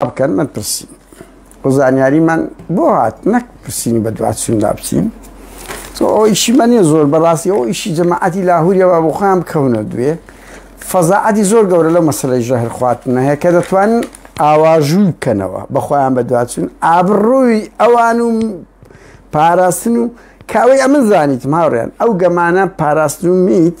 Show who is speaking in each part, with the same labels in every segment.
Speaker 1: بکەن من پرسیم بۆ زانیاریمان بۆ هات نەک پرسیین بە دواتسون دابچین ئەو ئیشی منە زۆر بەڕاستی ئەو ئیشی جەماعەتی لاهوریەوە بۆ خۆیان بکەونە دوێ فەزاعەتی زۆر گەورە لە مەسلەی ژەهر خواتنە هەیە کە دەتوان ئاواژووی بکەنەوە بەخۆیان بە دواتچون ئابڕووی ئەوان و پاراستن و کاوەی ئەمە زانیت ماوریان ئەو گەمانە پاراستن و میت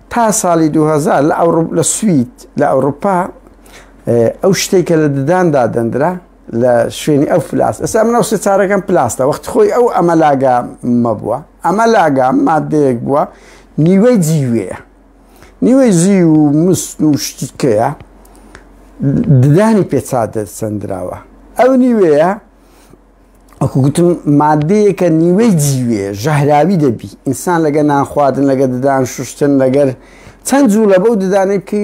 Speaker 1: تا ساڵی دوو هەزار لە ئەوڕوپ لە سوید لە ئەوروپا ئەو شتێک کە لە ددان دادەندرا لە شوێنی ئەو فلاس ئێستا من ئەو سێچارەکەم پلاستە وەخت خۆی ئەو ئەمە لاگا مەبووە ئەمە لاگا مادەیەک بووە نیوەی جیوەیە نیوەی زی و مست و شتیکەیە ددانی پێچا دەسەندراوە ئەو نیوەیە وەکو گوتم مادەیەکە نیوەی جیوێ ژەهراوی دەبی ئینسان لەگە نانخواردن لەگە ددان شوشتن لەگەر چەند جوو لە بەو ددانێک کە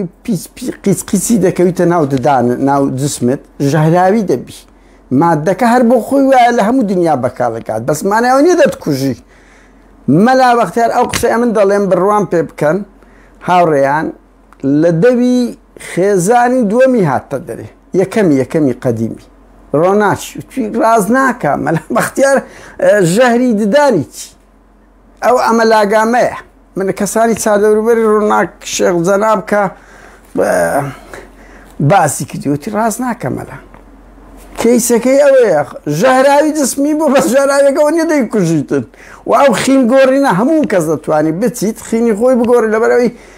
Speaker 1: قیس قیسی دەکەویتە ناو ددان ناو جسمت ژەهراوی دەبی مادەکە هەر بۆ خۆی وایە لە هەموو دنیا بەکارەکات بەسمانەوە نیە دەتکوژی مەلا بەختیار ئەو قسەیە من دەڵێم بڕوام پێ بکەن هاوڕێیان لە دەوی خێزانی دووەمی هاتتە دەرێ یەکەمی یەکەمی قەدیمی ڕۆناچی وتی ڕاز ناکە مەلا بەختیار ژەهری ددانی چی ئەو ئەمە لاگامەیە من کەسانی چادەوروبەری ڕووناک شێخ جەناب کە باسی کردیوتی ڕاست ناکەمەلا کەیسەکەی ئەوەیە ژەهراوی جسمی بۆ بە ژەراوێکەوە نیە دەی کوژیتت و ئەو خین گۆڕینە هەموو کەس دەتوانانی بچیت خینی خۆی بگۆڕی لەبەرەوەی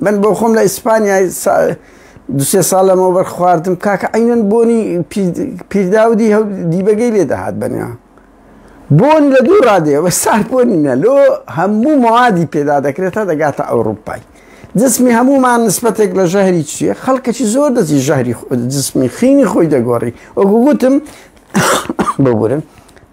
Speaker 1: من بۆ خۆم لە ئیسپانیای دوسێ ساڵ لەمەوبەر خواردم کاکە عینەن بۆنی پیرداودی هەو دیبەگەی لێ دەهات بەنیا بۆن لە دوو ڕادێ بە سار بۆنی نە لۆ هەموو موادی پێدا دەکرێت تا دەگاتە ئەوروپای جسمی هەمومان نسبەتێک لە ژەهری چیە خەڵکەی زۆر دەزی ژەهری جسمی خینی خۆی دەگۆڕی وەگوگوتم ببورن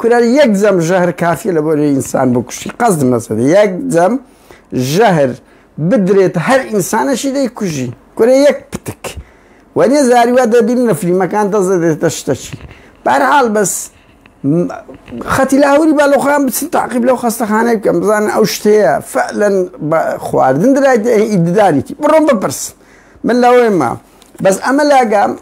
Speaker 1: کورە یەک جەم ژەهر کافیە لەبۆ رێی ئینسان بکوشی قەزد مەزەنی یەک جەم ژەهر بدرێت هەر ئینسانەشی دەی کوژی کورە یەک پتک وەنیە زاری وا دەبین لە فلیمەکان دەزە دێتە شتەچی بارحاڵ بەس خەتی لاهوری با لەخۆیان بچن تاقیب لەو خەستەخانەی بکەم بزانن ئەو شتەیە فەلەن خواردن درایت ئیددانێتی بڕۆم بپرس من لەوەی ما بەس ئەمە لاگام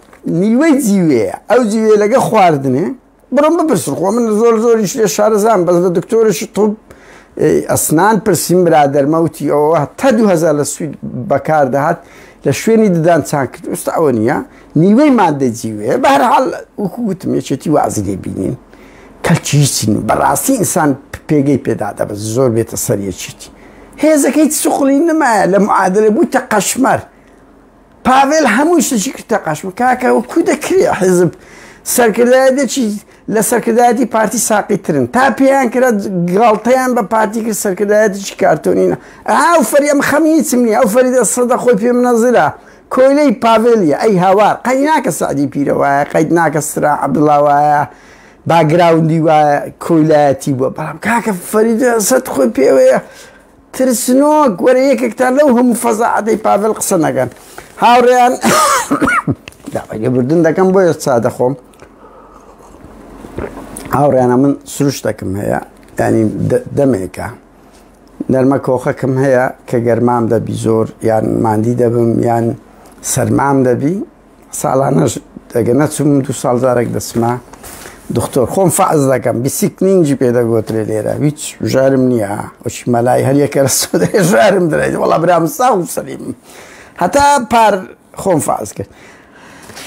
Speaker 1: نیوەی جیوەیە ئەو جیوێ لەگە خواردنێ بڕۆن بپرسن خۆ من زۆر زۆریش لێ شارەزان بەس لە دکتۆرشی طب ئەسنان پرسیم برادەرمەوتی ئەوە تا 2000 لە سوید بەکار دەهات لە شوێنی ددان چان کرد ئوستا ئەوە نییە نیوەی مادە جیوێ بەرحال وەکو گوتم یەکێتی وازی لێ بینین کەچیچین بەڕاستی ئینسان پێگەی پێدا دەبە زۆر بێتە سەریەکیتی هێزەکەی سوخلی نمایە لە معادلە بووتە قەشمەر پاڤێل هەمووی شتێکی کردە قاچم کاکە و کو دەکرێ حیزب سەرکردایەتێکی لە سەرکردایەتی پارتی ساقی ترن تا پێیان کرا گاڵتەیان بە پارتی کرد سەرکردایەتێکی کارتۆنینە ئاو فەریەم خەمی چمنی ئەو فەریدە سەدە خۆی پێم نەزرا کۆیلەی پاڤێلیە ئەی هاوار قەی ناکە سعدی پیرە وایە قەیت ناکە سرا عبدڵا وایە باگراوندی وایە کۆیلایەتی بووە بەڵام کاکە فەریدە سەد خۆی پێوەیە ترسنۆک وەرە یەکێکتان لەو هەموو فەزاعەتەی پاڤێل قسە نەکەن هاوڕێیان داوای لێبوردن دەکەم بۆیە چا دەخۆم هاوڕێیانە من سروشتەکەم هەیە ینی دەمێکە نەرمە کۆخەکەم هەیە کە گەرمام دەبی زۆر یان مادی دەبم یان سەرمام دەبی ساڵانەش دەگە نەچم دو ساڵ جارێک دەچمە دکتۆر خۆم فعز دەکەم بیسیک نینجی پێ دەگوترێ لێرە هیچ ژارم نییە وەچی مەلای هەریەکە ژارم درێت وڵا برام ساو سەلیم هەتا پار خۆم فعز کرد